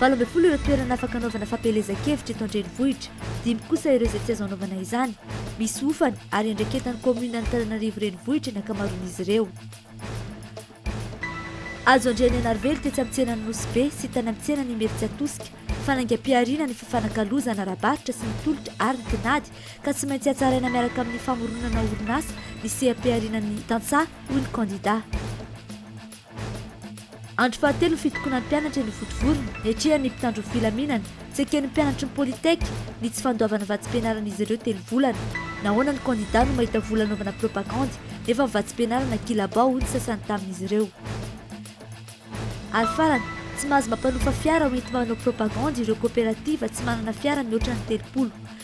Valo ambin'ny folo ireo toerana afaka anaovana fampielezan-kevitra eto an-drenivohitra, dimy kosa ireo izay tsy azo anaovana izany. Misy hofany ary iandraiketan'ny kaominina Antananarivo Renivohitra ny ankamaroan'izy ireo. Azo andrian' i Anarivelo tetsy amin'ny tsenan' ny Nosy Be sy tany amin'ny tsenan' Imerintsiatosika. Fanaingam-pihariana ny fifanakalozana ara-barotra sy ny tolotra ary ny tinady ka tsy maintsy hatsaraina miaraka amin'ny famoronana orinasa ny seha-pihariana ny tantsaha, hoy ny kandidà. Andro fahatelo ny fitokonan'ny mpianatra eny Vontovorona, niatrehany ny mpitandro ny filaminana. Tsy eken'ny mpianatry ny Polytech ny tsy fandoavana vatsim-pianaran'izy ireo telo volana. Nahoana ny kandida no mahita vola anaovana propagandy nefa ny vatsim-pianarana kilabao hoy ny sasany tamin'izy ireo. Ary farany, tsy mahazo mampanofa fiara hoenti-manao propagandy ireo koperativa tsy manana fiara mihoatra ny telopolo.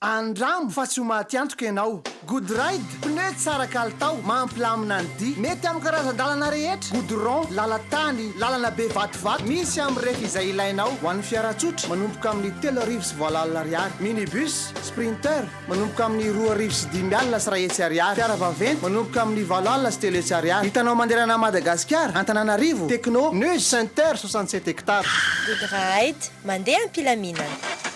Andramo fa tsy ho maty antoka ianao. Good ride, pneu tsara kalitao, mampilamina ny dia. Mety amin'ny karazan-dalana rehetra, goudron, lalan-tany, lalana be vatovato. Misy amin'ny rehefa izay ilainao. Ho an'ny fiara tsotra, manomboka amin'ny telo arivo sy valo alina ariary. Minibus, Sprinter, manomboka amin'ny roa arivo sy dimy alina sy iray hetsy ariary. Fiara vaventy, manomboka amin'ny valo alina sy telo hetsy ariary. Hitanao manderana an'i Madagasikara, Antananarivo, Tecno, News Center soixante sept hectares. Good ride, mandeha am-pilaminana.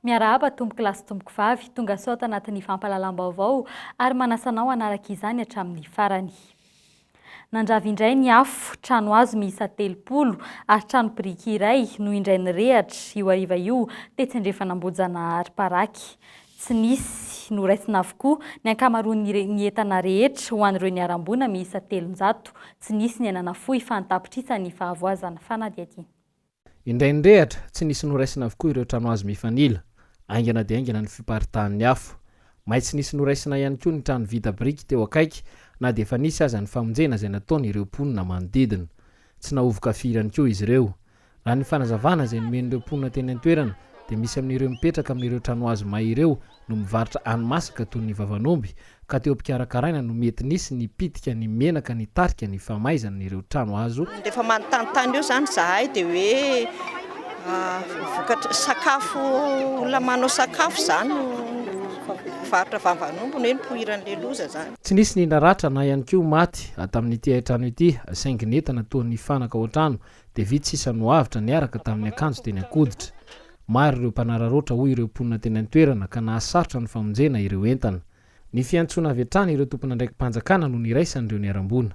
Miarahaba tompoko lahy sy tompoko vavy, tonga soa ato anatin'ny fampahalalam-baovao ary manasa anao hanaraka izany hatramin'ny farany. Nandrava indray ny afo, trano hazo miisa telopolo ary trano biriky iray no indray nirehatra, io hariva io, tetsy andrefan'Ambohijanahary paraky. Tsy nisy. Noraisina avokoa ny ankamaroan'ny re, ny entana rehetra ho an'ireo niharam-boina miisa telonjato. Tsy nisy ny aina nafoy fa ny tapitrisa ny fahavoazana. Fanadihadiana. Indray nirehatra, tsy nisy noraisina avokoa ireo trano hazo mifanila. Haingana dia haingana ny fiparitahan'ny afo. May tsy nisy noraisina ihany koa ny trano vita biriky teo akaiky na dia efa nisy aza ny famonjena izay nataon'ireo mponina manodidina. Tsy nahovoka firy ihany koa izy ireo. Raha ny fanazavana izay nomen'ireo mponina teny an-toerana dia misy amin'ireo mipetraka amin'ireo tranohazo may ireo no mivarotra hani-masaka toy ny vavan'omby ka teo am-pikarakaraina no mety nisy ny pitika ny menaka nitarika ny famaizana ireo tranohazo Rehefa manontany tany eo izany izahay dia hoe vokatra, sakafo, olona manao sakafo izany no mivarotra vavan'omby no hoe nipoiran'ilay loza izany. Tsy nisy ny naratra na ihany koa maty tamin'ity hain-trano ity saingy ny entana toa nifanaka ao an-trano dia vitsy sisa no avotra niaraka tamin'ny akanjo teny an-koditra. Maro ireo mpanararaotra hoy ireo mponina teny an-toerana ka nahasarotra ny famonjena ireo entana. Ny fiantsoana avy hatrany ireo tompon'andraiki-panjakana no niraisany ireo niharam-boina.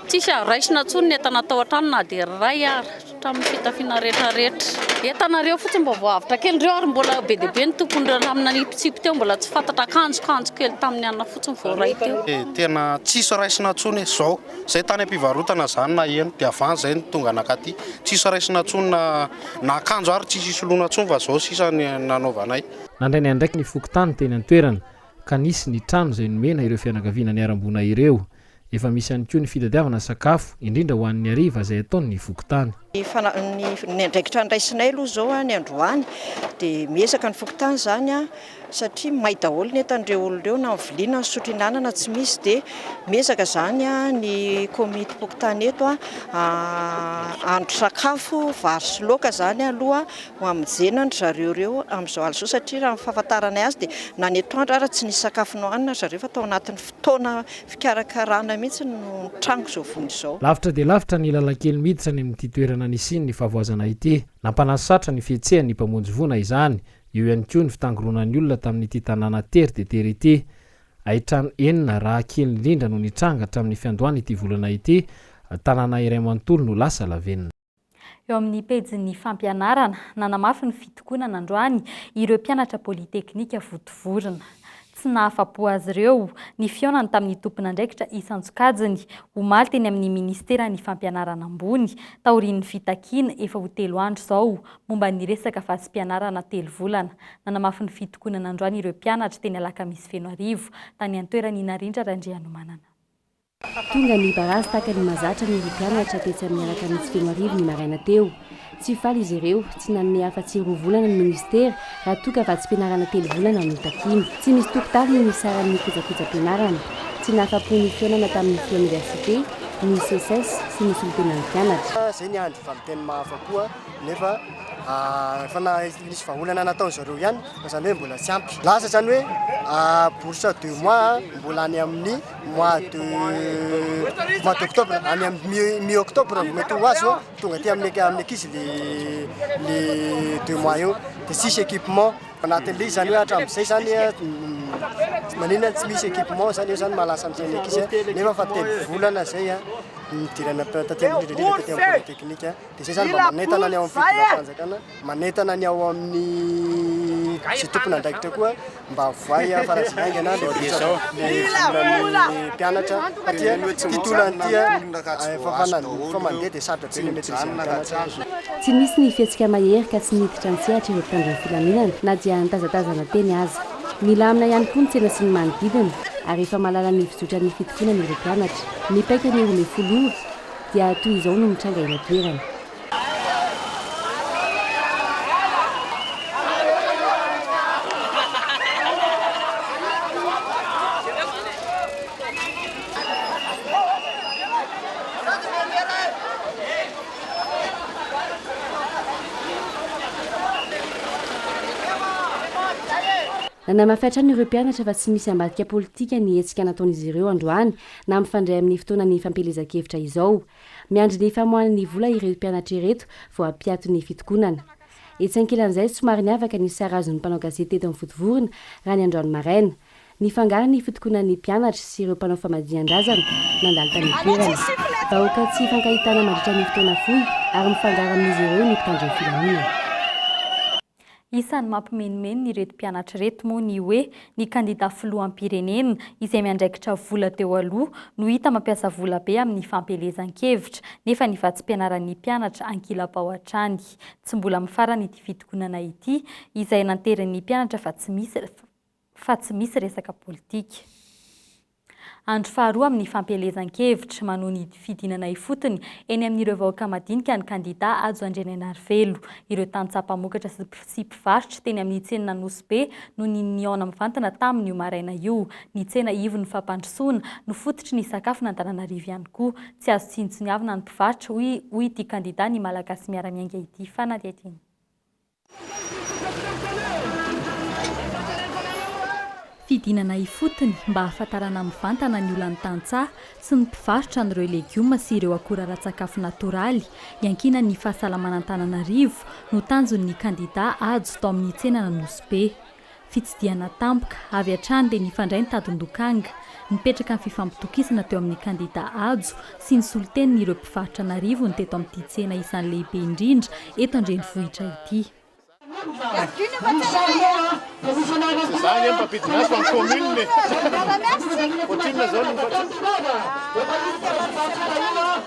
Tsisy azo raisina intsony ny entana tao an-trano na dia iray ary, hatramin'ny fitafiana rehetrarehetra. Entana ireo fotsiny mba voahavotra kely ireo ary mbola be dia be ny tompon'ireo lamba nanipitsipy teo, mbola tsy fantatra, akanjo, kanjo kely tamin'ny alina fotsiny vao ray teo. Tena tsisy raisina intsony izao. Zay tany ampivarotana zany naheno de avy any zay no tonga nakaty. Tsisy raisina tsony na na akanjo ary tsisy hisoloana tsony fa zao sisa ny nanaovanay. Nandray ny andraikiny fokontany teny an-toerana ka nisy ny trano izay nomena ireo fianakaviana niharam-boina ireo. Efa misy ihany koa ny fitadiavana sakafo, indrindra ho an'ny hariva izay ataon'ny fokontany. Ny andraikitra andraisinay aloha izao ny androany dia miezaka ny fokontany izany satria may daholo ny entan'ireo olona ireo na ny vilia na ny sotro ihinanana tsy misy dia miezaka izany ny komitim-pokontany eto hahandro sakafo vary sy laoka izany aloha ho hamonjena an-dry zareo ireo amin'izao alina izao satria raha ny fahafantaranay azy dia na ny atoandro ary tsy nisy sakafo nohanina ry zareo fa tao anatin'ny fotoana Fikarakarana mihitsy no nitranga izao vondro izao. Lavitra dia lavitra ny lalankely miditra any amin'ity toerana nisian'ny fahavoazana ity. Nampanasatra ny fihetsehan'ny mpamonjy voina izany. Eo ihany koa ny fitangoronan'ny olona tamin'ity tanàna tery dia tery ity. Haitrano enina raha kely indrindra no nitranga hatramin'ny fiandohan'ity volana ity. Tanàna iray manontolo no lasa lavenona. Eo amin'ny pejin'ny fampianarana, nanamafy ny fitokonana androany ireo mpianatra Polytechnique votovorona. Tsy nahafa-po azy ireo ny fihaonany tamin'ny tompon'andraikitra isan-tsokajiny, omaly teny amin'ny Ministeran'ny Fampianarana Ambony, taorian'ny fitakiana, efa ho telo andro izao, momba ny resaka fahasipianarana telo volana. Nanamafy ny fitokonana androany ireo mpianatra teny Alakamisy Fenoarivo, tany an-toerany i Narindra Randrianomanana. Tonga ny barazy tahaka ny mahazatra ny roa mpianatra tetsy amin'ny Alakamisy Fenoarivo ny maraina teo. Tsy faly izy ireo, tsy nanome afa-tsy roa volana ny minisitera raha toa ka vatsim-pianarana telo volana no takiana. Tsy misy tokontany ny nisaran'ny kojakojam-pianarana. Tsy nahafa-po ny fihaonana tamin'ny Free Université, ny Seces sy ny solontenan'ny mpianatra. Izay ny andro valinteny mahafa-po nefa efa nisy vahaolana nataon'izy ireo ihany fa izany hoe mbola tsy ampy. Lasa izany hoe bourse deux mois mbola any amin'ny. mois de mois d'octobre any amin'ny mi octobre vao mety ho azo tonga aty amin'ny amin'ny ankizy le le deux mois eo de sisy équipement anatin'le izany hoe hatramin'izay zany manina tsy misy équipement zany eo zany mahalasa amin'izay ny ankizy nefa fa telo volana zay a nidirana taty amin'ny rindrina taty amin'ny pôlyteknika de zay zany mba manentana ny ao amin'ny fitondrafanjakana Manentana ny ao amin'ny izay tompon'andraikitra koa mba voay faran'izay haingana ilay vola volan'ny mpianatra satria ity tolona ity efa efa mandeha dia sarotra be ilay maîtriser-n'ny mpianatra. Tsy nisy ny fihetsika mahery ka tsy niditra an-tsehatra ireo mpitandro ny filaminana na dia nitazatazana teny aza. Nilamina ihany koa ny tsena sy ny manodidina ary efa mahalala ny fizotran'ny fitokonana ireo mpianatra. Ny paikany ho lefolo io dia toy izao no nitranga eny an-toerana. Nanamafy hatrany ireo mpianatra fa tsy misy ambadika politika ny hetsika nataon'izy ireo androany na mifandray amin'ny fotoanan'ny fampielezan-kevitra izao. Miandry ny famoahan'ny vola ireto mpianatra ireto vao hampiato ny fitokonana. Etsy ankilan'izay, somary niavaka ny sarazon'ny mpanao gazety teto amin'ny Votovorona raha ny androany maraina. Nifangaro ny fitokonan'ny mpianatra sy ireo mpanao famadihàn-drazana nandalo tany an-toerana. Vahoaka tsy ifankahitana mandritra ny fotoana fohy ary mifangaro amin'izy ireo ny mpitandro ny filaminana. Isan'ny mampimenimeny ireto mpianatra ireto moa ny hoe ny kandida filoham-pirenena izay miandraikitra vola teo aloha no hita mampiasa vola be amin'ny fampielezan-kevitra nefa ny vatsim-pianaran'ny mpianatra ankilabao hatrany. Tsy mbola mifarana ity fitokonana ity izay nanterin'ny mpianatra fa tsy misy fa tsy misy resaka politika. Andro faharoa amin'ny fampielezan-kevitra manohy ny fidinana ifotony eny amin'ireo vahoaka madinika ny kandidà Hajo Andrianainarivelo. Ireo tantsaha mpamokatra sy mpivarotra teny amin'ny tsenan'Anosibe no nihaona mivantana taminy io maraina io. Ny tsena ivon'ny fampandrosoana no fototry ny sakafo n'Antananarivo ihany koa. Tsy azo tsinontsiniavina ny mpivarotra, hoy ity kandidà Ny Malagasy Miara-Miainga ity fanadihadiana. Fidinana ifotony mba hahafantarana mivantana ny olan'ny tantsaha sy ny mpivarotra an'ireo legioma sy ireo akora ara-tsakafo natoraly iankinan'ny fahasalamana Antananarivo no tanjon'ny kandidà Hajo tao amin'ny tsenan'Anosibe. Fitsidihana tampoka, avy hatrany dia nifandray ny tadin-dokanga. Nipetraka ny fifampitokisana teo amin'ny kandidà Hajo sy ny solontenin'ireo mpivarotra an'arivony teto amin'ity tsena isan'ny lehibe indrindra eto an-drenivohitra ity.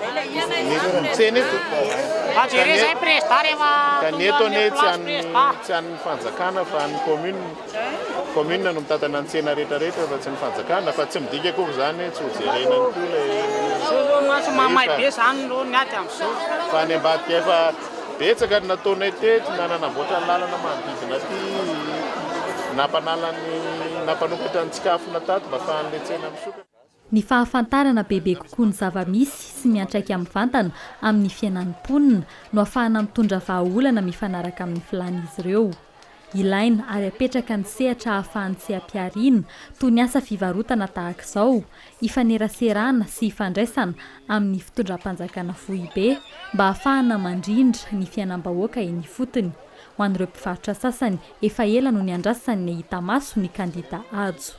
Mieriry ny tsena eto. Ka ny eto, ka ny eto anie tsy an'ny tsy an'ny fanjakana fa an'ny commune. Commune no mitantana ny tsena rehetra rehetra fa tsy ny fanjakana fa tsy midika akory izany hoe tsy ho jerena ihany koa ilay rehetra. Fa any ambadika efa betsaka ny nataonay teto na nanamboatra ny lalana manodidina aty, nampanala ny nampanokatra ny tsikafona tato mba afahan'ilay tsena misokatra. Ny fahafantarana bebe kokoa ny zava-misy sy miantraika mivantana amin'ny fiainan'ny mponina no afahana mitondra vahaolana mifanaraka amin'ny filàn'izy ireo. Ilaina ary apetraka ny sehatra ahafahan'ny seha-pihariana, toy ny asa fivarotana tahaka izao, hifaneraserana sy hifandraisana amin'ny fitondram-panjakana foibe mba hahafahana mandrindra ny fiainam-bahoaka eny ifotony. Ho an'ireo mpivarotra sasany, efa ela no niandrasany nahita maso ny kandida Hajo.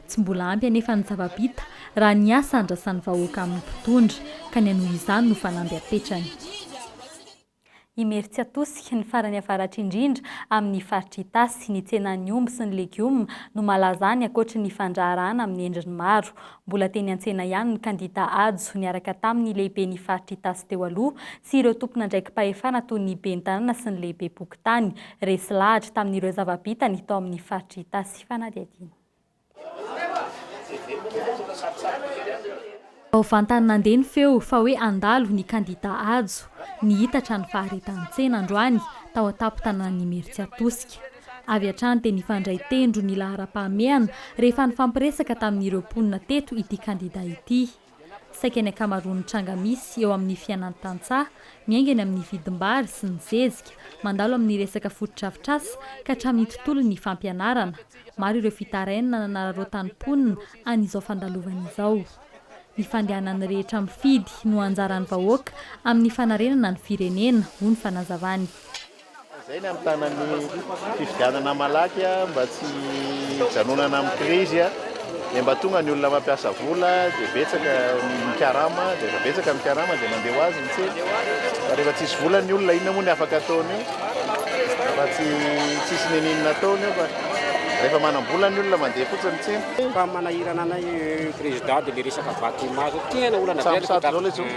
Tsy mbola ampy anefa ny zava-bita raha ny asa andrasan'ny vahoaka amin'ny mpitondra, ka ny hanohy izany no fanamby apetrany. Imerintsiatosika, ny farany avaratra indrindra amin'ny faritra Itasy, ny tsenan'ny omby sy ny legioma no malaza any ankoatry ny fandraharahana amin'ny endriny maro. Mbola teny an-tsena ihany ny kandida Hajo niaraka tamin'ny lehiben'ny faritra Itasy teo aloha sy ireo tompon'andraiki-pahefana toy ny ben'ny tanàna sy ny lehibem-pokontany. Resy lahatra tamin'ireo zava-bitany tao amin'ny faritra Itasy fanadihadiana. Vao vantany nandeha ny feo fa hoe handalo ny kandidà Hajo, nihitatra ny faharetan-tsena androany tao an-tampon-tanàn'Imeritsiatosika. Avy hatrany dia nifandray tendro ny laharam-pahamehana rehefa nifampiresaka tamin'ireo mponina teto ity kandidà ity. Saika ny ankamaroan'ny tranga misy eo amin'ny fiainan'ny tantsaha, miainga eny amin'ny vidim-bary sy ny zezika, mandalo amin'ny resaka fotodrafitrasa ka hatramin'ny tontolon'ny fampianarana. Maro ireo fitarainana nanararaotan'ny mponina an'izao fandalovana izao. Ny fandehanan'ny rehetra mifidy no anjaran'ny vahoaka amin'ny fanarenana ny firenena, hoy ny fanazavany. Izay ny hamitana ny fifidianana malaky mba tsy hijanonana amin'ny krizy dia mba tonga ny olona mampiasa vola dia betsaka ny mikarama dia rehefa betsaka ny mikarama dia mandeha ho azy ny tsena fa rehefa tsisy vola ny olona inona moa ny afaka ataony eo fa tsy tsisy neninina ataony eo fa rehefa manam-bola ny olona mandeha fotsiny ny tsena. Fa manahirana anay eh, président dia le resaka bâtiment zao tena olana be. Sambosato zao le zao.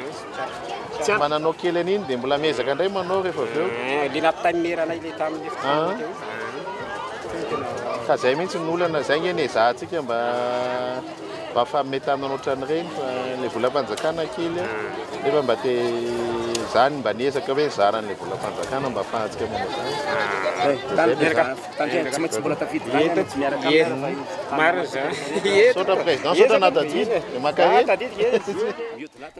Mananao kely an'iny dia mbola miezaka indray manao rehefa avy eo. Ilay nampitaimineranay ilay tamin'ny fotoana teo izany. Fa izay mihitsy ny olana, izay ange no ezahantsika mba mba hafaminay taminana ohatran'ireny fa ilay volam-panjakana kely a, nefa mba te izany mba niezaka hoe nizara an'ilay volam-panjakana mba afahantsika manao izany. Misaotra président, misaotra anà Tadidy, dia mankahia.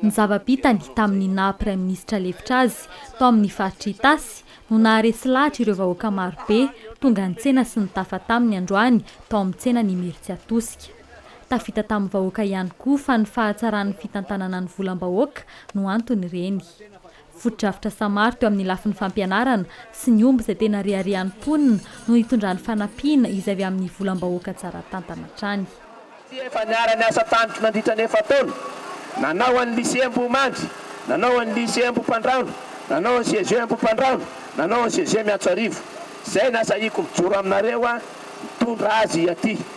Ny zava-bitany tamin'ny naha praiminisitra lefitra azy tao amin'ny faritra Itasy no naharesy lahatra ireo vahoaka marobe tonga nitsena sy nitafa taminy androany tao amin'ny tsenan'i Imerintsiatosika. Tafita tamin'ny vahoaka ihany koa fa ny fahatsaran'ny fitantanana ny volam-bahoaka no anton'ireny. Fotodrafitra samary teo amin'ny lafiny fampianarana sy ny omby izay tena reharehan'ny mponina no nitondrany fanampiana izay avy amin'ny volam-bahoaka tsara tantana hatrany. Tsy efa niara-niasa tamiko nandritra ny efa-taona, nanao an'ny Lycée Ambohimandry, nanao an'ny Lycée Ambohipandrahona, nanao an'ny CEG Ambohipandrahona, nanao an'ny CEG Miantsoarivo. Izay nasahiako mijoro aminareo aho, nitondra azy aty.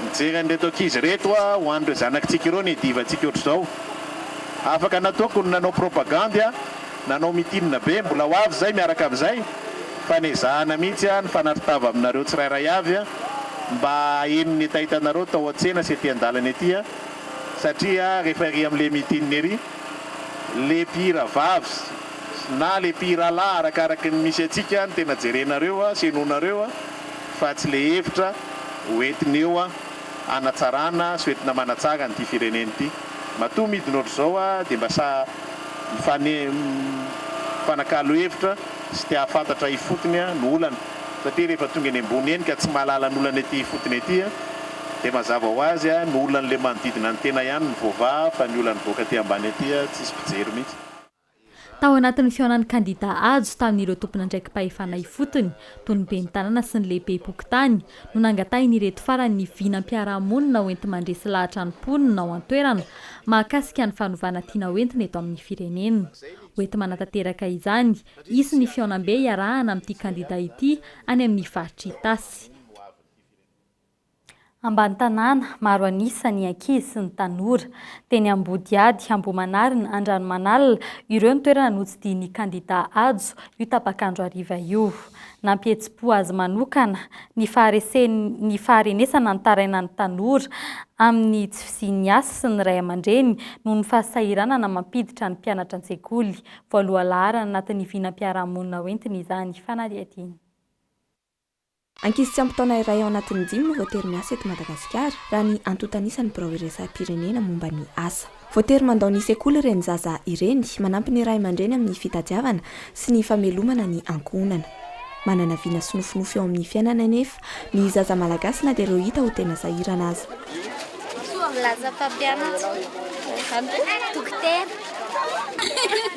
Mijery an'ireto ankizy ireto aho, ho an'ireo zanakitsika ireo ny divantsika ohatr'izao. Afaka nataoko ny nanao propagandy aho, nanao mitinina be, mbola ho avy izay miaraka amin'izay, fa nezahana mihitsy aho nifanarintava aminareo tsirairay avy mba haheno ny hetahetanareo tao an-tsena sy ety an-dalana ety, satria rehefa ery amin'ilay mitinina ery, ilay mpihira vavy na ilay mpihira lahy arakaraky ny misy antsika no tena jerenareo sy henoinareo. fa tsy le hevitra ho entiny eo hanatsarana sy ho entina manatsara an'ity firenena ity. Matoa midina ohatr'izao aho dia mba sahy mifanakalo hevitra sy te hahafantatra ifotony ny olana satria rehefa tonga eny ambony eny ka tsy mahalala ny olana ety ifotony ety dia mazava ho azy ny olan'ilay manodidina ny tena ihany no voavaha fa ny olan'ny mivoaka aty ambany aty tsisy mpijery mihitsy. Tao anatin'ny fihaonan'ny kandidà Hajo tamin'ireo tompon'andraiki-pahefana ifotony, toy ny ben'ny tanàna sy ny lehibem-pokontany, no nangatahin'ireto farany ny vinam-piarahamonina hoenti-mandresy lahatra ny mponina ao an-toerana mahakasika ny fanovana tiana hoentina eto amin'ny firenena. Hoenti-manatanteraka izany, hisy ny fihaonambe hiarahana amin'ity kandidà ity any amin'ny faritr'i Itasy. ambany tanàna, maro an'isa ny ankizy sy ny tanora. Teny Ambodiady, Ambohimanarina, Andranomanalina, ireo ny toerana notsidihin'ny kandidà Hajo io tapak'andro hariva io. Nampihetsi-po azy manokana ny faharesen'ny faharenesana nitarainan'ny tanora amin'ny tsy fisian'ny asa sy ny ray aman-dreny noho ny fahasahiranana mampiditra ny mpianatra an-tsekoly voalohalaharana anatin'ny vinam-piarahamonina hoentiny izany fanadihadiana. Ankizy tsy ampy taona iray ao anatin'ny dimy no voatery miasa eto Madagasikara, raha ny antontanisan'ny birao iraisam-pirenena momba ny asa. Voatery mandao ny sekoly ireny zaza ireny, manampy ny ray aman-dreny amin'ny fitadiavana sy ny famelomana ny ankohonana. Manana vina sy nofinofy eo amin'ny fiainana anefa ny zaza malagasy na dia ireo hita ho tena sahirana aza. Milaza mpampianatra, dokotera.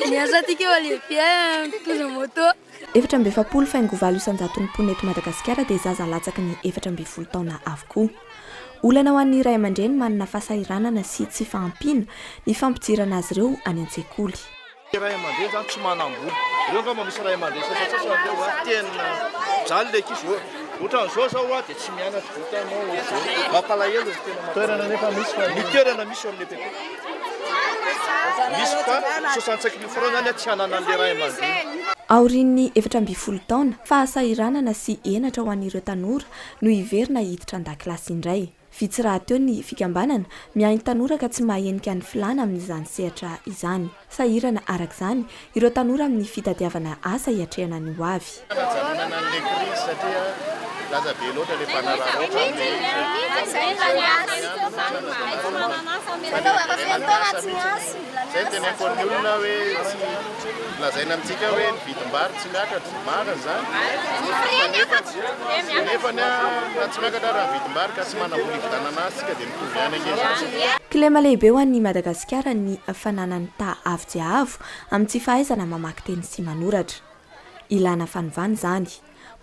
Miasa aty keo alia bien mpitondra moto. Efatra amby efapolo faingo valo isan-jaton'ny mponina eto Madagasikara dia zaza latsaky ny efatra ambin'ny folo taona avokoa. Olana ho an'ny ray aman-dreny manana fahasahiranana sy tsy fahampiana ny fampidirana azy ireo any an-tsekoly. Ny ray aman-dreny izany tsy manam-bola. Ireo angamba misy ray aman-dreny sasantsasany amin'ireo hoe tena mijaly ilay ankizy hoe ohatran'izao izao aho dia tsy mianatra, ohatranao ohatr'izao. Mampalahelo e, tena mampalahelo. Ny toerana misy fa. Ny toerana misy eo amin'ilay PP. Aorian'ny efatra ambin'ny folo taona, fahasahiranana sy henatra ho an'ireo tanora no hiverina hiditra an-dakilasy indray. Vitsy rahateo ny fikambanana miahy ny tanora ka tsy mahahenika ny filàna amin'izany sehatra izany. Sahirana araka izany Ireo tanora amin'ny fitadiavana asa hiatrehana ny ho avy. Fanjanonana an'ilay krizy satria lasa be loatra ilay mpanararaotra amin'ilay izy e. Mba tsy misy hoe oharina ihany no manana izany asa izany. Fa ny hiverenana asa mihitsy. Izay no tena ifoan'ny olona hoe tsy lazaina amintsika hoe ny vidim-bary tsy miakatra. Marina izany. Fa nefany, nefany an, na tsy miakatra ary ny vidim-bary ka tsy manam-bola hividanana azy isika dia. Misaotra. Kilema lehibe ho an'i Madagasikara ny fananany ta avo dia avo amin'ny tsy fahaizana mamaky teny sy manoratra. Ilana fanovana izany.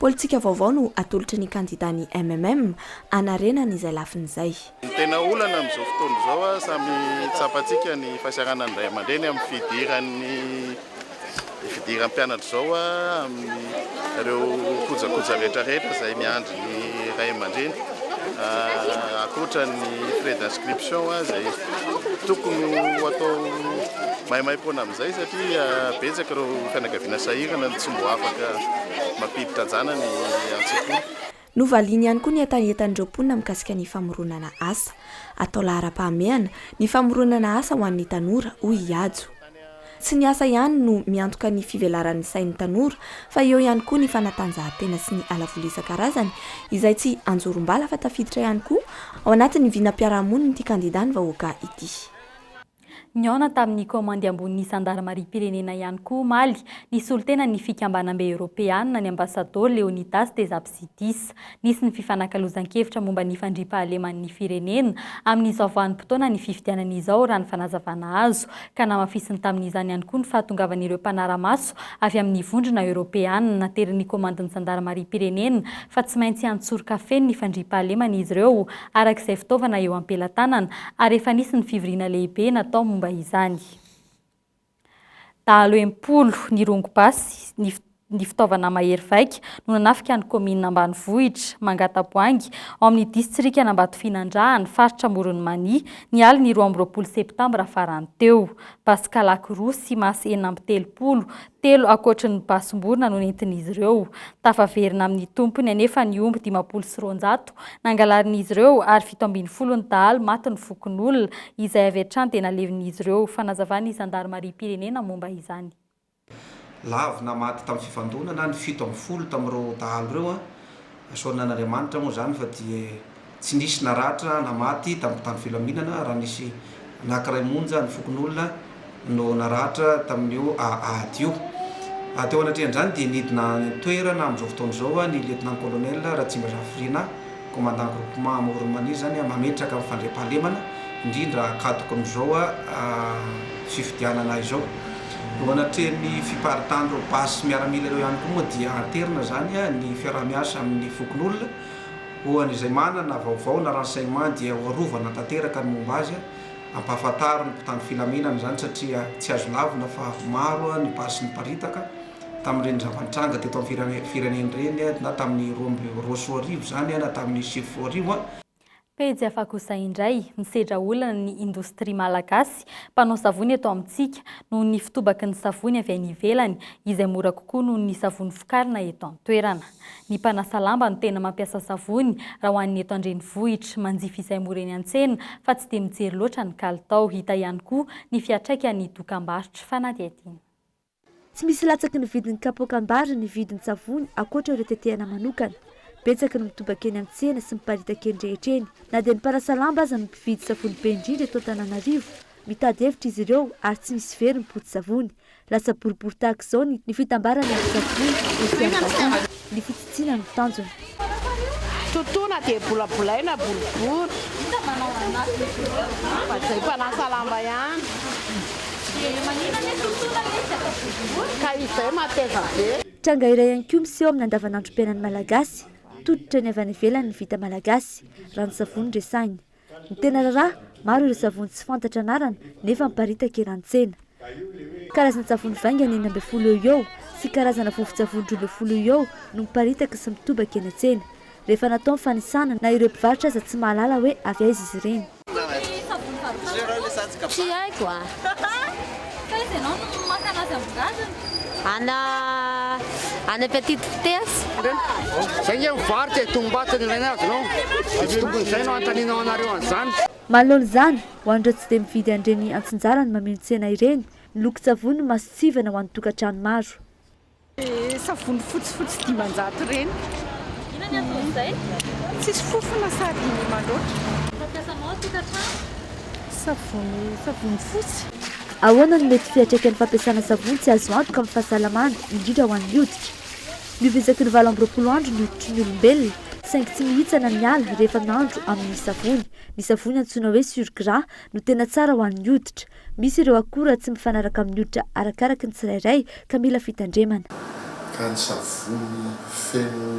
Politika vaovao no atolotry ny kandida ny MMM hanarenany izay lafiny izay. Ny tena olana amin'izao fotoana izao, samy tsapantsika ny fahasiaranan'ny ray aman-dreny amin'ny fidiran'ny. Hifidiram pianatra izao amin ireo kojakoja rehetra rehetra izay miandry ny ray aman-dreny ankoatra ny frais d'inscription izay tokony ho atao maimaimpoana amin izay satria betsaka ireo fianakaviana sahirana no tsy mbo afaka mampiditra anjanany an-tsekoly. Novaliany ihany koa ny hetahetan'ireo mponina mikasika ny famoronana asa. Atao laharam-pahamehana ny famoronana asa ho an'ny tanora, hoy i Hajo. Tsy ny asa ihany no miantoka ny fivelaran'ny sain'ny tanora fa eo ihany koa ny fanatanjahantena sy ny halavoly isan-karazany izay tsy anjorom-bala fa tafiditra ihany koa ao anatin'ny vinam-piarahamonin'ity kandidà ny vahoaka ity. Nihaona tamin'ny kaomandy ambonin'ny zandarimariam-pirenena ihany koa omaly, nisolo tena ny Fikambanam-be Eoropeana, ny Ambasadaoro Leonidas Tesapsidis. Nisy ny fifanakalozan-kevitra momba ny fandriampahaleman'ny firenena amin'izao vanim-potoanan'ny fifidianana izao, raha ny fanazavana azo, ka namafisiny tamin'izany ihany koa ny fahatongavan'ireo mpanara-maso avy amin'ny vondrona eoropeana naterin'ny kaomandin'ny zandarimariam-pirenena fa tsy maintsy an-tsoroka feno ny fandriampahaleman'izy ireo araka izay fitaovana eo am-pelatanana ary efa nisy ny fivoriana lehibe natao momba izany. Dahalo enimpolo nirongo basy, ny ny fitaovana mahery vaika no nanafika ny kaominina ambanivohitra Mangataboahangy ao amin'ny distrikan'Ambatofinandrahana, faritra Amoron'i Mania, ny alin'ny roa amby roapolo septambra farany teo. Basy kalaky roa sy masy enina amby telopolo Telo ankoatry ny basim-borona no nentin'izy ireo. Tafaverina amin'ny tompony anefa ny omby dimampolo sy roanjato nangalarin'izy ireo ary fito ambin'ny folo ny dahalo matin'ny fokonolona, izay avy hatrany dia nalevin'izy ireo. Fanazavan'ny zandarimariam-pirenena momba izany. Lavina maty tamin'ny fifandonana ny fito ambin'ny folo tamin'ireo dahalo ireo. Asorina an'Andriamanitra moa izany fa dia Tsy nisy naratra na maty tamin'ny tany filaminana raha nisy anankiray monja ny fokonolona no naratra tamin'io ady io. Teo anatrehan'izany dia nidina an-toerana amin'izao fotoana izao ny Lieutenant-Colonel Ratsimbazafirinà, Commandant Groupement Amoron'i Mania izany, mametraka ny fandriampahalemana indrindra akadokon'izao fifidianana izao. Eo anatrehan'ny fiparitan'ireo basy miaramila ireo ihany koa moa dia anterina izany ny fiaraha-miasa amin'ny fokonolona. Ho an'izay manana vaovao na renseignements dia ho arovana tanteraka ny momba azy, ampahafantaro ny mpitandro filaminana izany satria tsy azo lavina fa maro ny basy niparitaka tamin'ireny zava-nitranga teto amin'ny firenena ireny na tamin'ny roa amby roasoa arivo izany na tamin'ny sivifolo arivo. Pejy hafa kosa indray, misedra olana ny indostria malagasy mpanao savony eto amintsika noho ny fitobaky ny savony avy any ivelany izay mora kokoa noho ny savony vokarina eto an-toerana. Ny mpanasa lamba no tena mampiasa savony raha ho an'ny eto an-drenivohitra. Manjifa izay mora eny an-tsena fa tsy dia mijery loatra ny kalitao. Hita ihany koa ny fiantraikan'ny dokambarotra. Fanadihadiana. Tsy misy latsaky ny vidin'ny kapoaka ambara ny vidin-tsavony ankoatra ireo tetehana manokana. Betsaka no mitobaka eny an-tsena sy miparitaka eny rehetra eny. Na dia ny mpanasa lamba aza no mpividy savony be indrindra eto Antananarivo, mitady hevitra izy ireo ary tsy misy very ny poti-tsavony. Lasa boribory tahaka izao ny ny fitambaran'ny antsasak'ondry etsy Ambatoa, ny fitsitsiana no tanjona. Totoina dia bolabolaina boribory. Hita manao ranomaso izy ireo. Fa izay mpanasa lamba ihany. Dia maninona anie totoina ilay izy atao boribory? Ka izay mateza be. Tranga iray ihany koa miseho amin'ny andavanandrom-piainan'ny Malagasy. Tototra ny avy any ivelany ny vita malagasy. Ranon-tsavony resahina. Ny tena raharaha, maro ireo savony tsy fantatra anarana nefa miparitaka eran-tsena. Karazan-tsavony vaingany enina ambin'ny folo eo ho eo sy karazana vovon-tsavony roa ambin'ny folo eo ho eo no miparitaka sy mitobaka eny an-tsena. Rehefa natao ny fanisana na ireo mpivarotra aza tsy mahalala hoe avy aiza izy ireny. Taiza ianao no maka an'azy ambin-drazana? Ana ana petite ptes. Zay nge mivarotra e, tongombato no ilaina azy no izy tokony izay no anontanianao anareo an'izany. Malol zany ho an'ireo tsy dia mividy an'ireny antsinjarany mameno tsena ireny, ny lokon-tsavony no mason-tsivana ho an'ny tokantrano maro. Savony fotsifotsy dimanjato ireny. Inona ny anton'izay? Tsisy fofona sady mandroatra. Fampiasanao an-tokantrano? Savony, savony fotsy. Ahoana no mety fiantraikan'ny fampiasana savony tsy azo antoka amin'ny fahasalamana, indrindra ho an'ny hoditra? Ny ovy isaky ny valo amby roapolo andro ny hoditry ny olombelona, saingy tsy mihitsana ny ala rehefa nandro amin'ny savony. Ny savony antsoina hoe surgras no tena tsara ho an'ny hoditra. Misy ireo akora tsy mifanaraka amin'ny hoditra arakaraky ny tsirairay ka mila fitandremana. Ka ny savony feno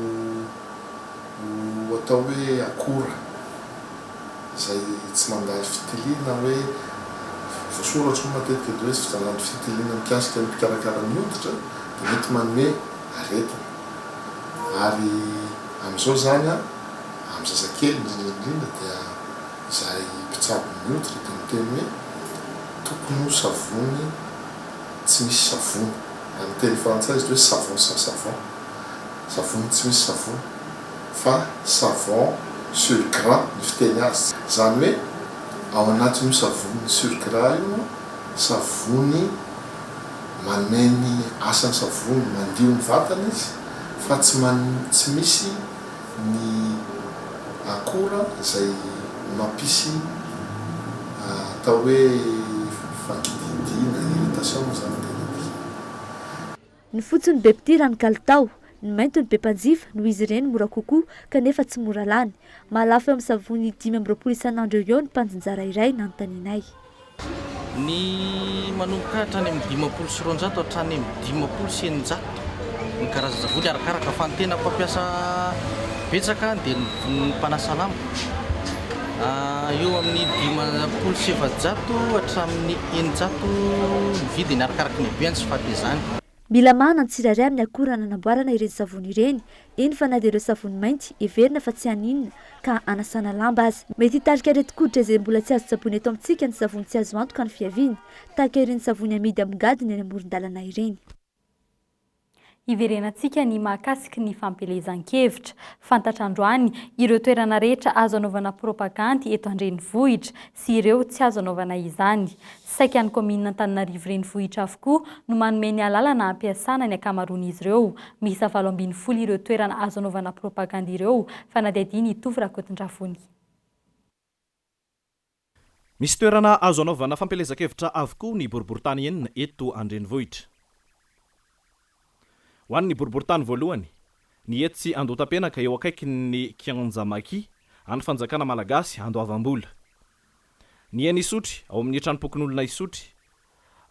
atao hoe akora izay tsy mandalo fitiliana hoe voasoratra moa matetika eto hoe tsy vitanan'ny fitiliana mikasika ny mpikarakara ny hoditra dia mety manome aretina ary amin'izao izany amin'ny zazakely indrindra indrindra dia Izay mpitsabo miotra dia miteny hoe, Tokony ho savony tsy misy savony. Amin'ny teny frantsay izy ity hoe savon sans savon, savony tsy misy savony, fa savon sur gras ny fiteny azy. Izany hoe ao anatin'io savony sur gras io no savony manome ny asan'ny savony, mandio ny vatana izy fa tsy misy. ny akora izay mampisy atao hoe fakididiana, irritation, ny zana-dehilahy. Ny fotsy no be mpitia raha ny kalitao, ny mainty no be mpanjifa noho izy ireny mora kokoa kanefa tsy mora lany. Mahalafo eo amin'ny savony dimy amby roapolo isan'andro eo ho eo ny mpandinjara iray nanontanianay. Ny manomboka hatrany amin'ny dimampolo sy roanjato hatrany amin'ny dimampolo sy eninjato ny karazan-tsavony, arakaraka fa ny tena mpampiasa betsaka dia ny mpanasa lamba, eo amin'ny dimampolo sy efajato hatramin'ny eninjato ny vidiny, arakaraka ny habeny sy fahatezany. Mila mahana ny tsirairay amin'ny akora nanamboarana ireny savony ireny, eny fa na dia ireo savony mainty heverina fa tsy haninona ka hanasana lamba aza. Mety hitarika aretin-koditra izay mbola tsy azo tsaboina eto amintsika ny savony tsy azo antoka ny fiaviany, tahaka ireny savony amidy amin-gadona eny amoron-dalana ireny. Hiverenantsika ny mahakasiky ny fampielezan-kevitra. Fantatra androany ireo toerana rehetra azo anaovana propagandy eto an-drenivohitra sy ireo tsy azo anaovana izany. Saika ny kaominina Antananarivo Renivohitra avokoa no manome ny alalana hampiasana ny ankamaroan'izy ireo. Miisa valo ambin'ny folo ireo toerana azo anaovana propagandy ireo, fanadihadian' i Tovo Rakotondravonia. Misy toerana azo anaovana fampielezan-kevitra avokoa ny boriborintany enina eto an-drenivohitra. Ho an'ny boriborintany voalohany, ny etsy Andohatapenaka eo akaikin'ny Kianja Maki, an'ny Fanjakana Malagasy Andoavam-bola. Ny eny Isotry ao amin'ny Tranompokonolona Isotry,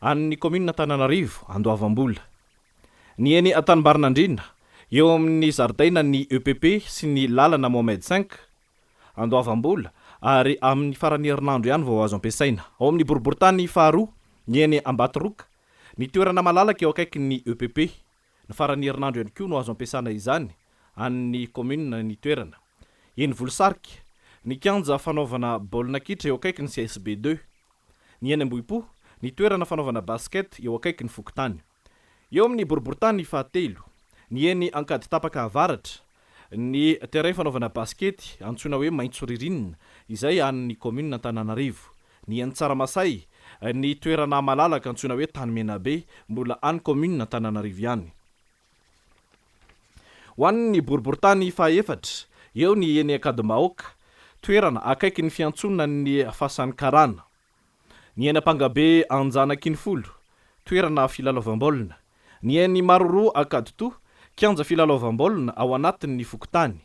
an'ny Kaominina Antananarivo Andoavam-bola. Ny eny Tanimbarinandriana, eo amin'ny zaridainan'ny EPP sy ny lalana Mohamed V, Andoavam-bola, ary amin'ny faran'ny herinandro ihany vao azo ampiasaina. Ao amin'ny boriborintany faharoa, ny eny Ambatoroka, ny toerana malalaka eo akaikin'ny EPP. Ny faran'ny herinandro ihany koa no azo ampiasana izany, an'ny kaominina ny toerana. Eny Volosarika, ny kianja fanaovana baolina kitra eo akaikin'ny CSB deux. Ny eny Ambohipo, ny toerana fanaovana basket eo akaikin'ny fokontany. Eo amin'ny boriborintany fahatelo, ny eny Ankaditapaka avaratra, ny terrain fanaovana basikety antsoina hoe Maitso Ririnina izay an'ny kaominina Antananarivo, ny eny Tsaramasay, ny toerana malalaka antsoina hoe Tany Menabe mbola an'ny kaominina Antananarivo ihany. Ho an'ny boriborintany fahaefatra, eo ny eny Ankadimbahoaka, toerana akaikin'ny fiantsonan'ny fasan'ny karana. Ny eny Ampangabe Anjanakinifolo, toerana filalaovam-baolina. Ny eny Maroroa Ankaditoha, kianja filalaovam-baolina ao anatin' ny fokontany.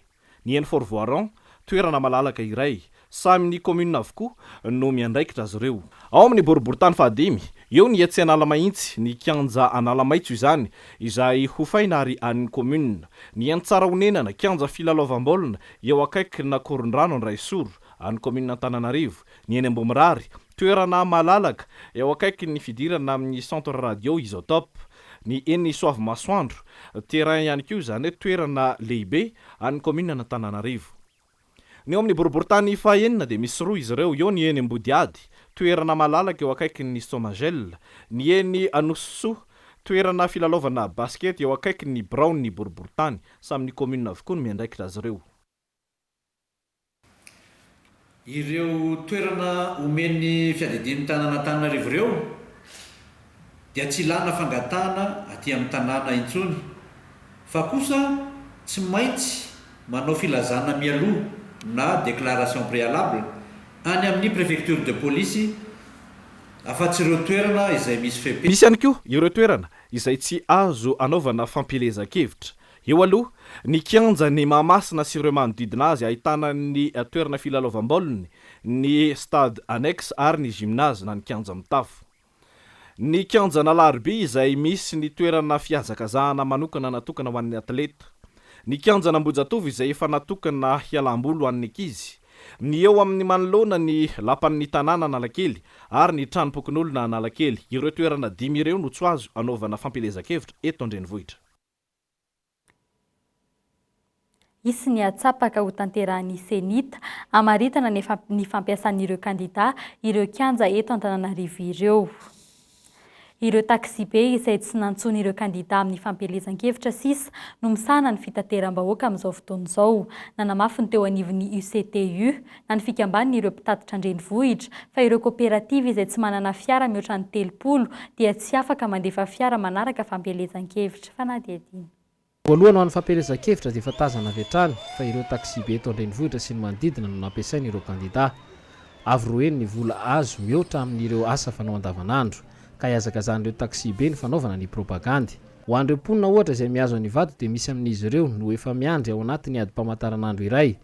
Ny eny Fort Voiron, toerana malalaka iray. Samy ny kaominina avokoa no miandraikitra azy ireo. Ao amin' ny boriborintany fahadimy, eo ny etsy Analamahitsy, ny kianja Analamaitso izany, izay hofaina ary an' ny kaominina. Ny eny Tsarahonenana, kianja filalaovam-baolina, eo akaikin' Akorondrano Andraisoro, an' ny kaominina Antananarivo. Ny eny Ambohimirary, toerana malalaka eo akaikin'ny fidirana amin'ny Centre Radio Isotope. Ny eny Soavimasoandro, terrain ihany koa izany hoe toerana lehibe an'ny kaominin'Antananarivo. Ny eo amin'ny boriborintany fahenina dia misy roa izy ireo, eo ny eny Ambodihady, toerana malalaka eo akaikin'ny Somagel, ny eny Anosisoa, toerana filalaovana basikety eo akaikin'ny biraon'ny boriborintany. Samy ny kaominina avokoa no miandraikitra azy ireo. Ireo toerana omen'ny fiadidian'ny tanàn'Antananarivo ireo dia tsy ilàna fangatahana aty amin'ny tanàna intsony fa kosa tsy maintsy manao filazana mialoha na déclaration préalable any amin'ny préfecture de police afa-tsy ireo toerana izay misy fepetra. Misy ihany koa ireo toerana izay tsy azo anaovana fampielezan-kevitra Eo aloha, ny kianjan'i Mahamasina sy ireo manodidina azy ahitana ny toerana filalaovam-baoliny, ny stade annexe ary ny gymnase na ny kianja mitafo. Ny kianjan'Alaharibe izay misy ny toerana fihazakazahana manokana natokana ho an'ny atleta. Ny kianjan'Ambohijatovo izay efa natokana hialam-boly ho an'ny ankizy. Ny eo amin'ny manoloana ny lapan'ny tanàna Analakely ary ny tranom-pokonolona Analakely. Ireo toerana dimy ireo no tso azo anaovana fampielezan-kevitra eto an-drenivohitra. Hisy ny hatsapaka hotanterahin'ny Cenit hamaritana ny fampiasan'ireo kandidà ireo kianja eto Antananarivo ireo. Ireo taksibe izay tsy nantsoiny ireo kandidà amin'ny fampielezan-kevitra sisa no misahana ny fitateram-bahoaka amin'izao fotoana izao, nanamafy ny teo anivon'ny UCTU, na ny fikambanin' ireo mpitatitra an-drenivohitra, fa ireo koperativa izay tsy manana fiara mihoatra ny telopolo dia tsy afaka mandefa fiara manaraka fampielezan-kevitra. Fanadihadiana. Voalohany ho an'ny fampielezan-kevitra dia efa tazana avy hatrany fa ireo taksibe eto an-drenivohitra sy ny manodidina no nampiasain' ireo kandidà. Avo roeny ny vola azo mihoatra amin' ireo asa fanao andavanandro, ka ihazakazan' ireo taksibe ny fanaovana ny propagandy. Ho an'ireo mponina ohatra izay mihazo an'Ivato dia misy amin' izy ireo no efa miandry ao anatin' ny adim-pamantaranandro iray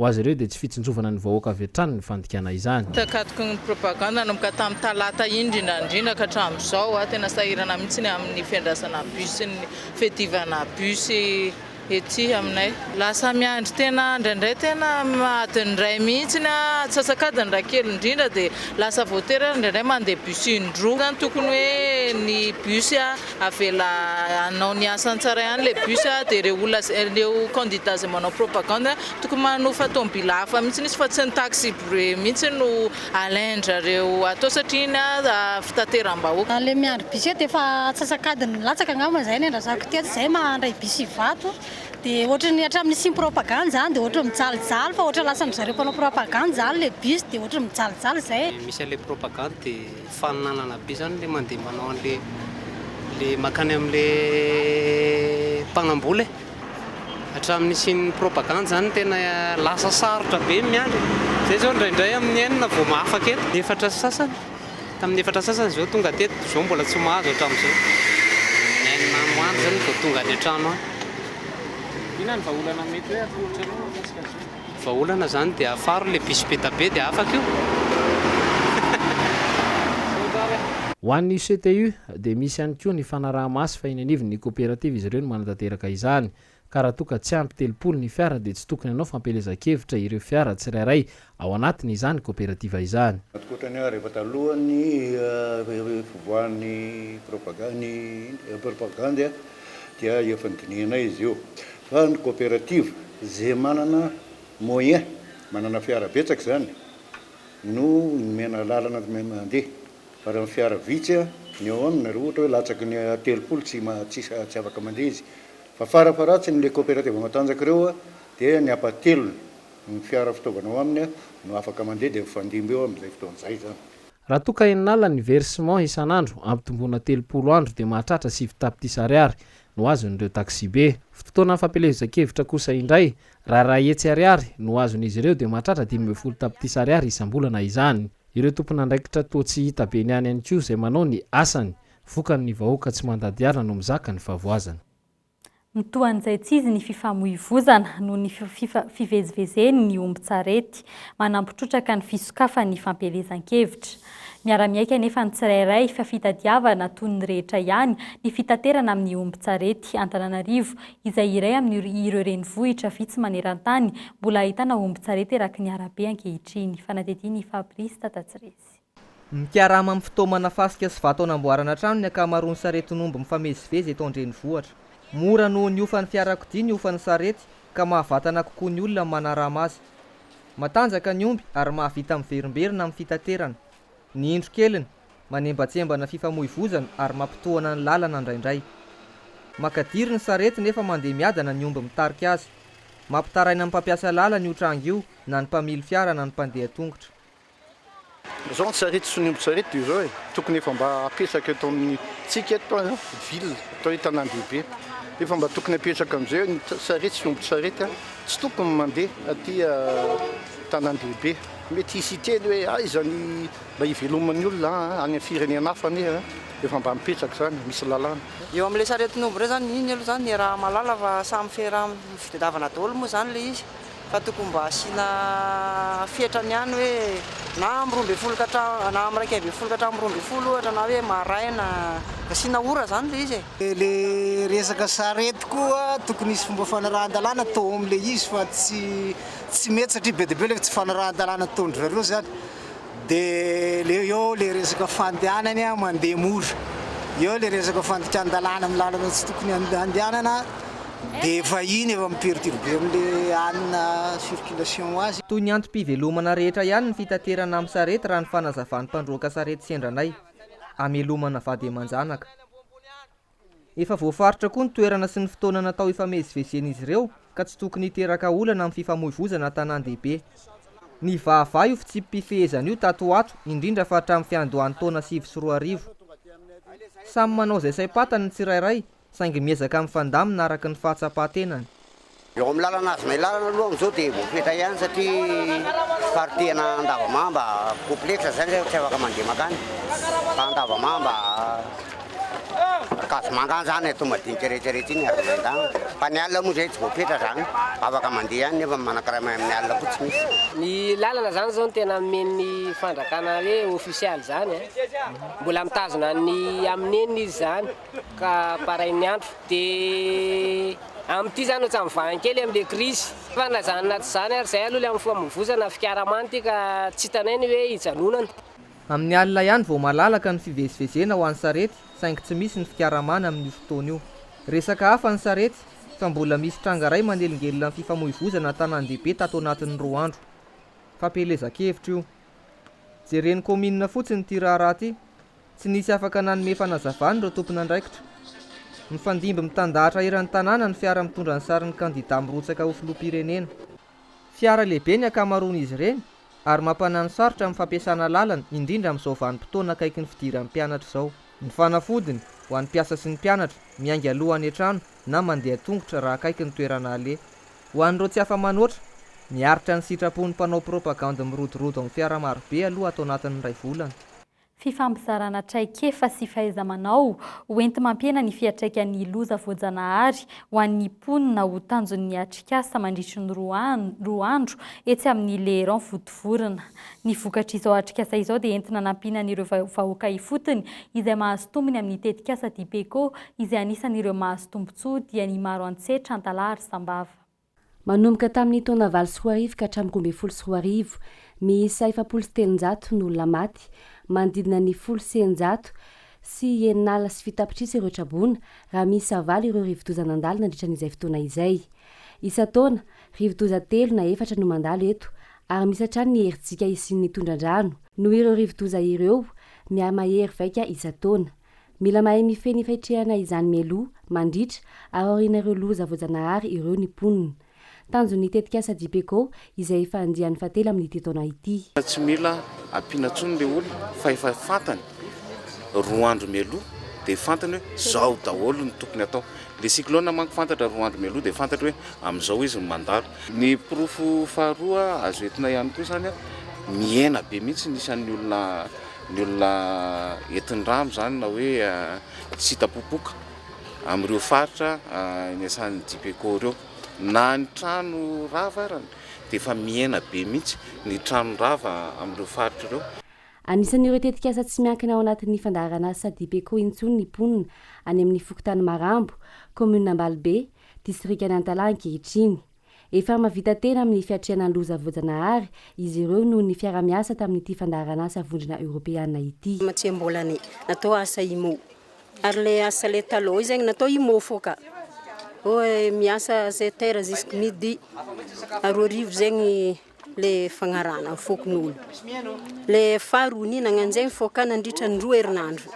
Ho azy ireo dia tsy fitsinjovana ny vahoaka avy hatrany ny fandikana izany. Takatoky ny propagande nanomboka tamin'ny talata iny indrindra indrindra ka hatramin'izao, tena sahirana mihitsy ny amin'ny fiandrasana bus sy ny fiadivana bus ety aminay. Lasa miandry tena indraindray tena adin'ny iray mihitsy ny atsasak'adiny raha kely indrindra dia lasa voatery ary indraindray mandeha bus indroa izany tokony hoe ny bus Avela hanao ny asany tsara ihany le bus a, de reo olona zay reo candidat zay manao propagande tokony manofa tomobila hafa mihitsy izy fa tsy ny taxi bru mihitsy no alaindrareo atao satria iny aza fitateram-bahoaka. Le miandry bus eo dia efa atsasak'adiny latsaka angamba zay ny andrazako ity atsy zay mandray bus Ivato de ohatrany hatramin'ny nisian'ny propagande zany de ohatrany mijalijaly fa ohatra lasan'dry zareo mpanao propagande zany le bus de ohatrany mijalijaly zay e. Misy an'le propagande dia Faninanana be zany le mandeha manao anle le makany amle mpanambola e! Hatramin'ny nisian'ny propagande zany tena lasa sarotra be ny miandry e! Zay zao indraindray amin'ny enina vao mahafaka eto. Efatra sy sasany, tamin'ny efatra sy sasany zao tonga teto, zao mbola tsy mahazo hatramin'izao. Enina andro andro zany vao tonga any an-trano any. Inona ny vahaolana mety hoe atolotrareo mikasika an'izao? Vahaolana zany dia afaro le bisipeta be dia afaka io. Ho an'ny CTU dia misy ihany koa ny fanaraha-maso fa eny anivon'ny koperativa izy ireo no manatanteraka izany ka raha toa ka tsy ampy telopolo ny fiara dia tsy tokony hanao fampielezan-kevitra ireo fiara tsirairay ao anatiny izany koperativa izany. Ankoatra ny rehefa talohan'ny fivoahan'ny propagandy dia efa nodinihanay izy io fa ny coopérative ze manana moyen manana fiara betsaka zany no nomena lalana mandeha fa raha ny fiara vitsy ny ao aminy raha ohatra hoe latsaky ny telopolo tsy tsy afaka mandeha izy fa farafaharatsiny le coopérative matanjaka reo dia ny apatelony ny fiara fitaovana ao aminy no afaka mandeha dia mifandimby eo amizay fotoana zay zany. Raha toa ka enin'alina ny versement isan'andro, ampitomboina telopolo andro dia mahatratra sivy tapitrisa ariary no azon'ireo taksibe. Fotoana fampielezan-kevitra kosa indray, raha iray hetsy ariary no azon'izy ireo dia mahatratra dimy ambin'ny folo tapitrisa ariary isam-bolana izany. Ireo tompon'andraikitra toa tsy hita be ny any ihany koa izay manao ny asany. Vokany ny vahoaka tsy mandady alina no mizaka ny fahavoazana. Mitohan'izay tsy izy ny fifamoivozana noho ny fivezivezeny ny ombin-tsarety, manampy trotraka ny fisokafany ny fampielezan-kevitra. Miara-miaiky anefa ny tsirairay fa fitadiavana toy ny rehetra ihany ny fitaterana amin'ny ombin-tsarety. Antananarivo, izay iray amin'ireo renivohitra vitsy maneran-tany mbola ahitana ombin-tsarety eraky ny arabe ankehitriny. Fanadihadian'i Fabrice Tatatsirezy. Mikarama amin'ny fitaomana fasika sy vato hanamboarana trano ny ankamaroan'ny saretin'omby mifamezivezy eto an-drenivohitra. Mora noho ny hofan'ny fiarakodia ny hofan'ny sarety ka mahavatana kokoa ny olona ny manarama azy. Matanjaka ny omby ary mahavita miverimberina amin'ny fitaterana. Ny indro keliny, manembatsembana fifamoivozana ary mampitohana ny lalana indraindray. Makadiry ny sarety nefa mandeha miadana ny omby mitarika azy. Mampitaraina ny mpampiasa lalana io tranga io na ny mpamily fiara na ny mpandeha tongotra. Zao ny sarety sy ny ombin-tsarety dia izao e, tokony efa mba apetraka eto amintsika eto an, ville atao hoe tanàn-dehibe, efa mba tokony apetraka amin'izay ny sarety sy ombin-tsarety an, tsy tokony mandeha aty tanàn-dehibe, mety hisy hiteny hoe aiza ny mba hiveloman'ny olona an, any amin'ny firenena hafa anie an, efa mba mipetraka izany, misy lalàna. Eo amin'ilay saretin'omby indray izany, iny aloha izany ny raha mahalala fa samy fera mitadiavana daholo moa izany ilay izy, Fa tokony mba asiana fetrany ihany hoe na amin'ny roa ambin'ny folo ka hatramin, na amin'ny iraika ambin'ny folo ka hatramin'ny roa ambin'ny folo ohatra na hoe maraina, asiana ora izany ilay izy e. Ilay resaka sarety koa tokony hisy fomba fanarahan-dalàna atao amin'ilay izy fa tsy tsy mety satria be dia be ilay tsy fanarahan-dalàna ataon-dry zareo izany. Dia le eo le resaka fandehanany a mandeha mora, eo le resaka fandikan-dalàna amin'ny lalana tsy tokony handehanana dia efa iny efa mi-perturber an'le anona circulation azy. Toy ny antom-pivelomana rehetra ihany ny fitaterana amin'ny sarety raha ny fanazavan'ny mpandroaka sarety sendranay. Amelomana vady aman-janaka. Efa voafaritra koa ny toerana sy ny fotoana natao hifamezivezen'izy ireo ka tsy tokony hiteraka olana amin'ny fifamoivoizana an-tanàn-dehibe. Nivahavaha io fitsipi-pifehezana io tato ho ato indrindra fa hatramin'ny fiandohan'ny taona sivy sy roa arivo. Samy manao izay saim-pantany ny tsirairay saingy miezaka mifandamina araka ny fahatsapan-tenany. Eo amin'ny lalana azonay lalana aloha amin'izao dia voafetra ihany satria fiparotehana Andavamamba complexe zany zay tsy afaka mandeha makany fa Andavamamba Ankazomanga zany atao madinika rehetra rehetra iny ary miandany fa ny alina moa zay tsy voafetra zany afaka mandeha ihany nefa manakarama amin'ny alina koa tsy misy. Ny lalana zany zao no tena nomeny ny fandrakana hoe official zany an! Mbola mitazona ny amin'ny eny izy zany. ka barain'ny andro dia amin'ity zany ohatran'ny vahany kely amin'ilay krizy fanilazana anaty izany ary izay aloha ilay amin'ny famoivozana fikaramany ity ka tsy hitanay ny hoe hijanonana. Amin'ny alina ihany vao malalaka ny fivezivezena ho an'ny sarety saingy tsy misy ny fikaramana amin'io fotoana io. Resaka hafa ny sarety fa mbola misy tranga iray manelingelina ny fifamoivozana an-tanàn-dehibe tato anatin'ny roa andro. Fampielezan-kevitra io. Jeren'ny kaominina fotsiny ity raharaha ity Tsy nisy afaka nanome fanazavana ireo tompon'andraikitra. Mifandimby mitandahatra eran'ny tanàna ny fiara mitondra ny sarin'ny kandidà mirotsaka ho filoham-pirenena. Fiara lehibe ny ankamaroan'izy ireny ary mampanahy ny sarotra amin'ny fampiasana lalana indrindra amin'izao vanim-potoana akaiky ny fidiran'ny mpianatra izao. Ny fanafodiny, ho an'ny mpiasa sy ny mpianatra, miainga aloha any an-trano na mandeha an-tongotra raha akaiky ny toerana aleha. Ho an'ireo tsy afa-manoatra, miaritra ny sitrapon'ny mpanao propagandy mirodorodo amin'ny fiara marobe aloha ato anatin'ny iray volana. Fifampizarana traikefa sy fahaiza-manao ho enti-mampihena ny fiantraikan'ny loza voajanahary ho an'ny mponina ho tanjon'ny atrikasa mandritry ny roa andro etsy amin'ny Leyrand Votovorona. Ny vokatr'izao atrikasa izao dia entina anampiana an'ireo vahoaka ifotony izay mahazo tombony amin'ny tetikasa Dipeco izay anisan'ireo mahazo tombontsoa diany maro antsetra, antalaha ary sambava. Manomboka tamin'ny taona valo sy roa arivo ka hatramin'ny roa ambin'ny folo sy roa arivo, miisa efapolo sy telonjato no olona maty, manodidina ny folo sy eninjato sy eninala sy fito tapitrisa ireo traboina, raha miisa valo ireo rivodoza nandalo nandritra an'izay fotoana izay. Isan-taona, rivodoza telo na efatra no mandalo eto, ary misy hatrany ny herijika hisian'ny tondra-drano, noho ireo rivodoza ireo, miha-mahery vaika isan-taona. Mila mahay mifehy ny faitrehana izany mialoha, mandritra, ary aoriana ireo loza voajanahary ireo ny mponina. Tanjon'ny tetikasa JPECO izay efa andiany fahatelo amin'ity taona ity. Tsy mila ampiana intsony ilay olona fa efa fantany roa andro mialoha dia fantany hoe izao daholo ny tokony atao. Ilay cyclone manko fantatra roa andro mialoha dia fantatra hoe amin'izao izy no mandalo. Ny porofo faharoa azo entina ihany koa izany, mihena be mihitsy ny isan'ny olona. ny olona entin-drano izany na hoe tsy hita popoka amin'ireo faritra niasan'ny Dipeco ireo. Na ny trano rava ary dia efa mihena be mihitsy ny trano rava amin'ireo faritra ireo. Anisan'ireo tetikasa tsy miankina ao anatin'ny fandaharanasa Dipeco intsony ny mponina any amin'ny fokontany Marambo, kaominina Ambalibe, distrikan'i Antalaha ankehitriny. Efa mahavita tena amin'ny fiatrehana ny loza voajanahary izy ireo noho ny fiarahamiasa tamin'ity fandaharan'asa vondrona eoropeana ity. Tsy mbola ny natao asa IMO. Ary le asa le taloha zegny natao IMO fô ka. Hoe miasa sept heures jusqu'à midi. Roa arivo zegny. le fagnarahana ny foko nono le faro oni nagnanjegny fô ka nandritra ny roa herinandro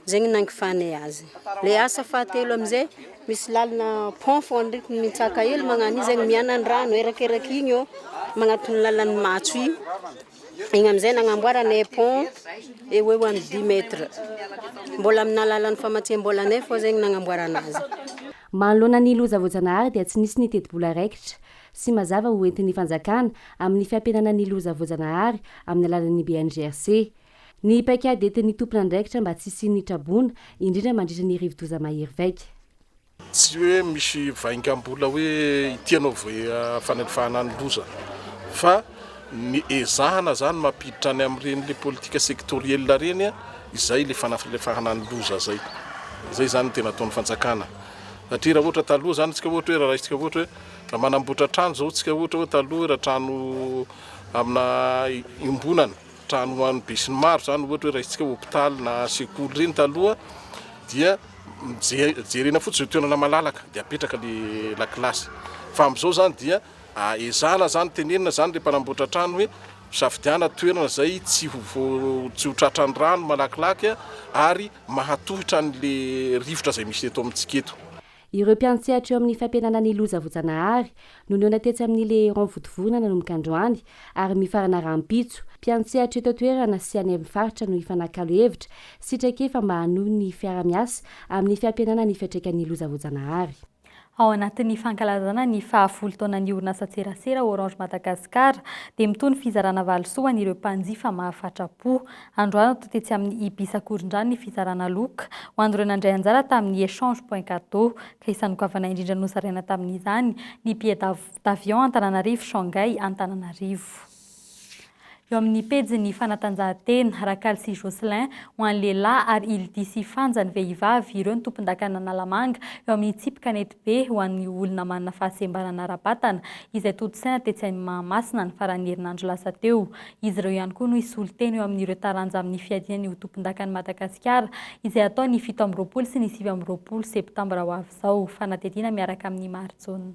zegny nangifanay azy le asa fahatelo amizay misy lalina pont fô ndreky mitsaka hely magnano io zegny mianandrano erakeraky igny ô magnatony lalan'ny matso igny igny amizay nagnamboaranay pont eo eo amy dix mètre mbola amina alalan'ny famatsiam-bolanay fô zegny nagnamboarana azy Manoloana ny loza voajanahary dia tsy nisy ny tetibola raikitra. sy mazava ho entin'ny fanjakana amin'ny fiampihenana ny loza voajanahary amin'ny alalan'ny BNGRC. Ny paikady entin'ny tompon'andraikitra mba tsy hisian'ny traboina, indrindra mandritra ny rivodoza mahery vaika. Tsy hoe misy vaingambola hoe ity ianao vao fanalefahana ny loza fa ny ezahana izany mampiditra any amin'ireny le politika sectoriel ireny izay le fanafalefahana ny loza izay. Izay izany no tena ataon'ny fanjakana. Satria raha ohatra taloha izany, antsika ohatra hoe raha raisitsika ohatra hoe Raha manamboatra trano izao tsika ohatra hoe taloha raha trano amina iombonana, trano ho an'ny besinimaro izany ohatra hoe raisintsika hôpitaly na sekoly ireny taloha dia jerena fotsiny izay toerana malalaka dia apetraka le lakilasy. Fa amin'izao izany dia ezahana izany tenenina izany le mpanamboatra trano hoe safidiana toerana izay tsy ho tsy ho tratran'ny rano malakilaky ary mahatohitra an'le rivotra izay misy eto amintsika eto. Ireo mpiantsehatra eo amin'ny fampihenana ny loza voajanahary no nihaona tetsy amin'ny Le Héron Votovorona nanomboka androany ary mifarana rahampitso. Mpiantsehatra eto an-toerana sy any amin'ny faritra no hifanakalo hevitra sy traikefa mba hanohy ny fiaraha-miasa amin'ny fampihenana ny fiantraikan'ny loza voajanahary. Ao anatin'ny fankalazana ny fahafolo taonan'ny orinasan-tserasera Orange Madagascar dia mitohy ny fizarana valisoa ho an'ireo mpanjifa mahafatra-po. Androany toa tetsy amin'ny Ibis Akorondrano ny fizarana loka ho an'ireo nandray anjara tamin'ny Echange Point Cadeau, ka isanokavanay indrindra nozaraina tamin'izany ny billet d'avion Antananarivo Shanghai Antananarivo. Eo amin'ny pejin'ny fanatanjahantena, Rakal sy Jocelyn, ho an'ny lehilahy, ary Ildy sy Fanja, ny vehivavy, ireo ny tompondakan'Analamanga eo amin'ny tsipy kanety. be ho an'ny olona manana fahasembanana ara-batana, izay tontosaina tetsy amin'ny Mahamasina, ny faran'ny herinandro lasa teo. Izy ireo ihany koa no hisolo tena eo amin'ireo taranja amin'ny fiadiana ny ho tompondakan'i Madagasikara, izay hatao ny fito amby roapolo sy ny sivy amby roapolo septambra ho avy izao. Fanadihadiana miaraka amin'ny Marijaona.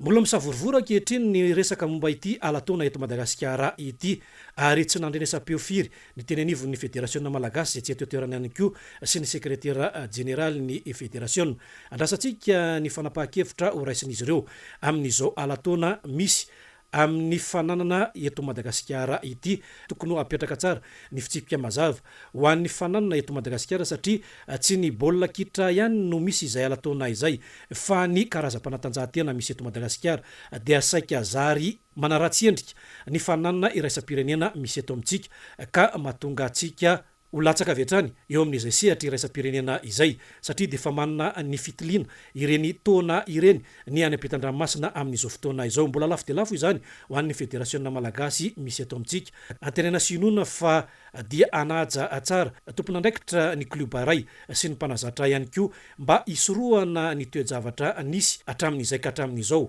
Mbola misavorovoro ankehitriny ny resaka momba ity ala-taona eto Madagasikara ity ary tsy nandrenesam-peo firy ny teny anivon'ny Federasiona Malagasy izay tsy eto an-toerana ihany koa sy ny Sekretera Jeneralin'ny Federasiona. Andrasantsika ny fanapahan-kevitra horaisin'izy ireo amin'izao ala-taona misy Amin'ny fananana eto Madagasikara ity, tokony ho apetraka tsara ny fitsipika mazava ho an'ny fananana eto Madagasikara satria tsy ny baolina kitra ihany no misy izay ala-taona izay fa ny karazam-panatanjahantena misy eto Madagasikara dia saika zary manaratsy endrika ny fananana iraisam-pirenena misy eto amintsika ka mahatonga antsika Ho latsaka avy hatrany eo amin'izay sehatra iraisam-pirenena izay, satria dia efa manana ny fitiliana ireny taona ireny ny any am-pitandranomasina amin'izao fotoana izao. Mbola lafo dia lafo izany ho an'ny federasiona malagasy misy eto amintsika. Antenaina sy inoana fa dia hanaja tsara tompon'andraikitra ny klioba iray sy ny mpanazatra ihany koa mba hisorohana ny toe-javatra nisy hatramin'izay ka hatramin'izao.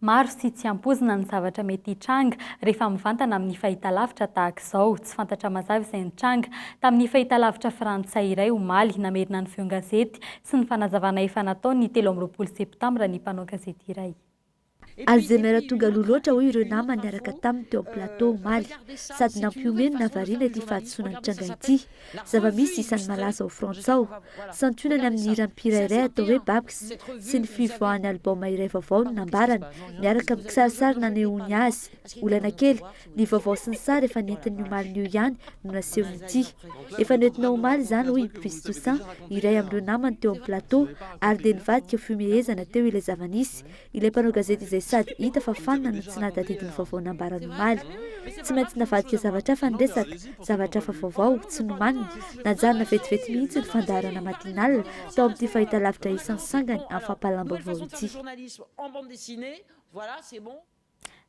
Maro sy tsy ampoizina ny zavatra mety hitranga rehefa mivantana amin'ny fahitalavitra tahaka izao. Tsy fantatra mazava izay nitranga tamin'ny fahitalavitra frantsay iray omaly. Namerina ny feon-gazety sy ny fanazavana efa nataony ny telo amby roapolo septambra ny mpanao gazety iray. Azy dia miara-tonga aloha loatra, hoy ireo namany niaraka taminy teo amin'ny plateau omaly, sady nampihomehy ny nahavariana ity fahadisoana nitranga ity. zava-misy isan'ny malaza ao Frantsa ao, santionany amin'ny hira mpihirairay atao hoe Babx sy ny fivoahan'ny album iray vaovao no nambarany, miaraka amin'ny kisarisary nanehoany azy. Olana kely, ny vaovao sy ny sary efa nentiny ny omalin'io ihany no nasehony ity. Efa noentina omaly izany, hoy i Brice Toussaint, iray amin'ireo namany teo amin'ny plateau, ary dia nivadika ho fihomehezana teo ilay zava-nisy, Ilay mpanao gazety izay sady hita fa fanina no tsy nahatadidy ny vaovao nambarany omaly. Tsy maintsy navadika zavatra hafa ny resaka, zavatra hafa vaovao, tsy nomanina. Najanona vetivety mihitsy ny fandaharana matinale tao amin'ity fahitalavitra isan'ny sangany amin'ny fampahalalam-baovao ity.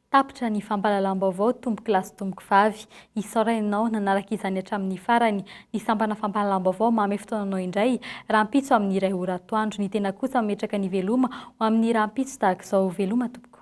Tapitra ny fampahalalam-baovao Tompoko lahy sy Tompoko vavy. Isaorana ianao nanaraka izany hatramin'ny farany. Ny sampana fampahalalam-baovao manome fotoana anao indray, rahampitso amin'ny iray ora atoandro. Ny tena kosa mametraka ny Veloma ho amin'ny rahampitso tahaka izao. Veloma Tompoko.